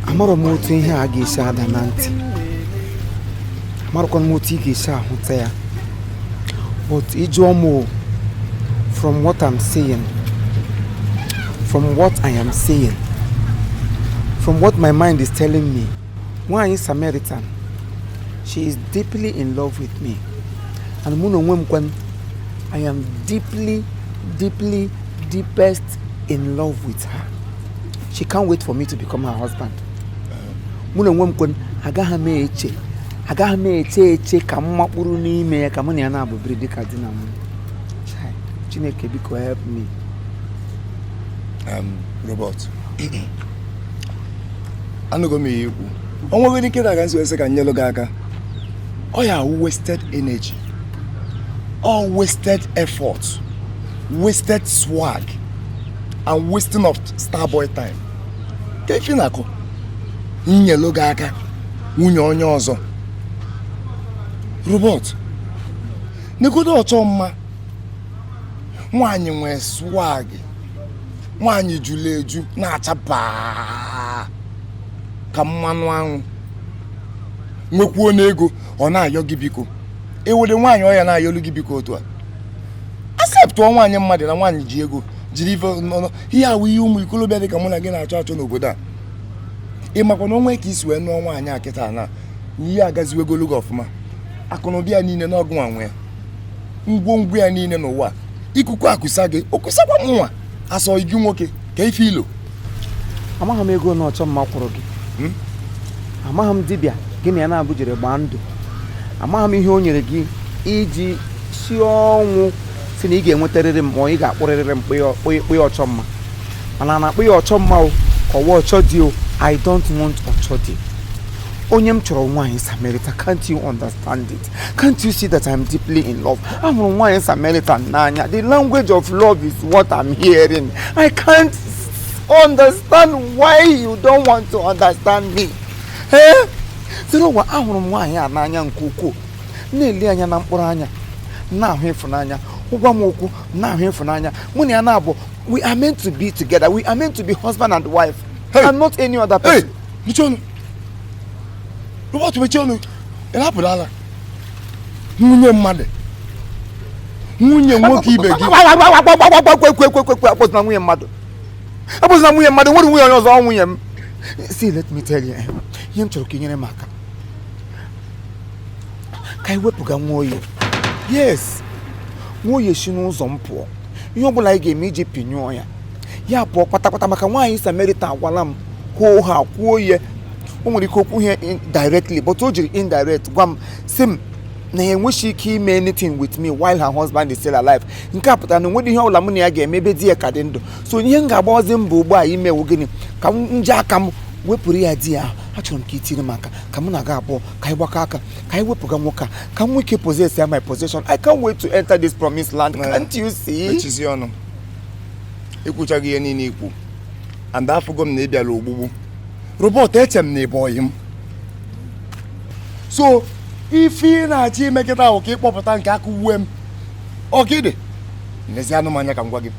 amarọ m otu ihe a ga-esi ada na ntị amarọkwa m otu ị ga-esi ahụta ya but ị jụọ m o, from what I'm saying from what I am saying from what my mind is telling me nwaanyị Samaritan she is deeply in love with me and mụ na onwe m kwanụ I am deeply deeply deepest in love with her she can't wait for me to become her husband mụ na onwe m kwanụ agaghị m eche agaghị m eche eche ka m makpuru n'ime ya ka mụ na ya naabọ biri dịka di na nwunye Chai, chineke biko help me um, robert anụgo m ihe i kwu o nweghị ike na aga m esi wee sị ka m nyelu gị aka ọ ya wasted energy all wasted effort wasted swag and wasting of starboy time kee ife ị na-akọ nyelu gị aka nwunye onye ọzọ robert negodo ọchọ mma nwaanyị nwee swag nwaanyị julu eju na-acha baa ka mmanụ anwụ nwekwuo n'ego ọ na-ayọ gị biko ewere nwaanyị ọ ya na-ayọlu gị biko otu a acceptụọ nwaanyị mmadụ na nwaanyị ji ego jiri ife ọnụ ihe a wụ ihe ụmụ ikolobịa dị ka mụ na gị na-achọ achọ n'obodo a ị makwa na o nwee ka i si wee nụọ nwaanyị a kịta na na ihe agaziwegolu gị ọfụma akụnụba ya niile na ọ gịnwa nwe ya ngwongwo ya niile n'ụwa ikuku akụsa gị ọ kụsakwa mụnwa as ọyị gị nwoke kee ife i lo amaghị m ego one ọchọ mma kwụrụ gị hmm? amaghị m dibịa gị na ya naabọ jere gbaa ndụ amaghị m ihe o nyere gị i ji si ọnwụ sị na ị ga-enwetarịrị m ma ị ga-akpụrịrịrị m kpụya ọchọ mma ma a na-akpọ ya ọchọ mma o ka ọ wụ ọchọ di o i don't want ọchọ di onye m chọrọ nwaanyị Samaritan can't you understand it Can't you see that I'm deeply in love? Ahụrụ m nwaanyị Samaritan n'anya. The language of love is what I'm hearing. I can't understand why you don't want to understand me. Eh? Sịrị ụwa ahụrụ m nwaanyị a n'anya nke ukwuu na-ele anya na mkpụrụ anya na-ahụ ịfụnanya ọ gwa m okwu na-ahụ ịfụnanya mụ na ya naabọ we are meant to be together we are meant to be husband and wife hey. and not any other person. Hey, mechie ọnụ, Robert mechie ọnụ. ị na-apụ ala nwunye mmadụ nwunye nwoke ibe gị akpọzina nwunye mmadụ akpọzina nwunye mmadụ ọ wụrọ nwunye onye ọzọ nwunye m see let me tell you eh, ihe m chọrọ ka i nyere m aka ka anyị wepụga Nwoye yes Nwoye si n'ụzọ m pụọ ihe ọ bụla anyị ga-eme iji pinyụọ ya ya pụọ kpatakpata maka nwaanyị samaritan agwala m hoohaa kwuo ihe o nwere ike o kwughị ya in- directly but o jiri indirect gwa m si m na ya enweghị ike ime anything with me while her husband is still alive nke a pụtara na o nwedị ihe ọbụla mụ na ya ga-eme ebe di ya ka dị ndụ so ihe m ga-agbawazi mbọ ugbu a ime wụ gịnị ka m ji aka m wepụrụ ya di ya ahụ achọrọ m ka i tiri m aka ka mụ na gị abụọ ka anyị gbakọ aka ka anyị wepụga nwoke a ka m nwee ike possess ya my possession i can't wait to enter this promised land can't you see mechizi ọnụ i kwuchago ihe niile ikwu and afụgo m na ị bịara ogbugbu robert eche m na ị bụ ọyị m so ife ị na-achọ ime kịta wụ ka ị kpọpụta nke aka uwe m ọgịdị nezienụ m anya ka m gwa gị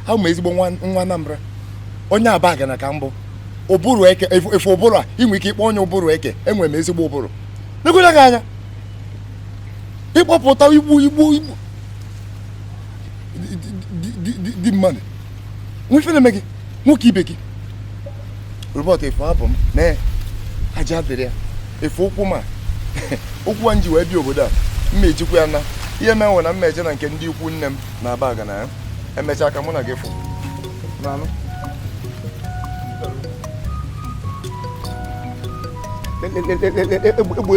awụ m ezigbo nwa Anambra onye Abagana ka m bụ ụbụrụ eke ị fụ ụbụrụ a i nwe ike ịkpọ onye ụbụrụ eke enwere m ezigbo ụbụrụ negodu gị anya ị kpọpụta igbu di mmadụ o nwe ife na-eme gị nwoke ibe gị robert ị fụ abụ m na aja dịrị ya ị fụ ụkwụ m a ụkwụ a m ji wee bịa obodo a m ma-ejikwa ya naa ihe menwe na m ma-eje na nke ndị ikwu nne m na Abagana ya emechaa ka mụ na gị fụ n'anụ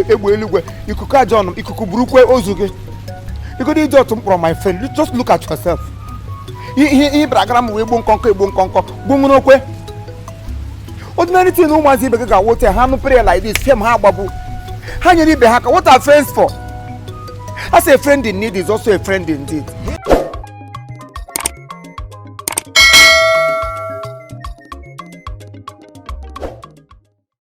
egbe eluigwe ikuku ajọ ọnụ ikuku burukwe ozu gị igodo e ji atụ mkpọrọ my friend just look at yourself ihe ihe bara gara m wee gbuo nkọnkọ egbuo nkọnkọ gbuo nwere okwe ordinary thing ụmụazị ibe gị ga-awote ha nụ prayer like this fiam ha agbapụ ha nyere ibe ha aka what are friends for as a friend in need is also a friend indeed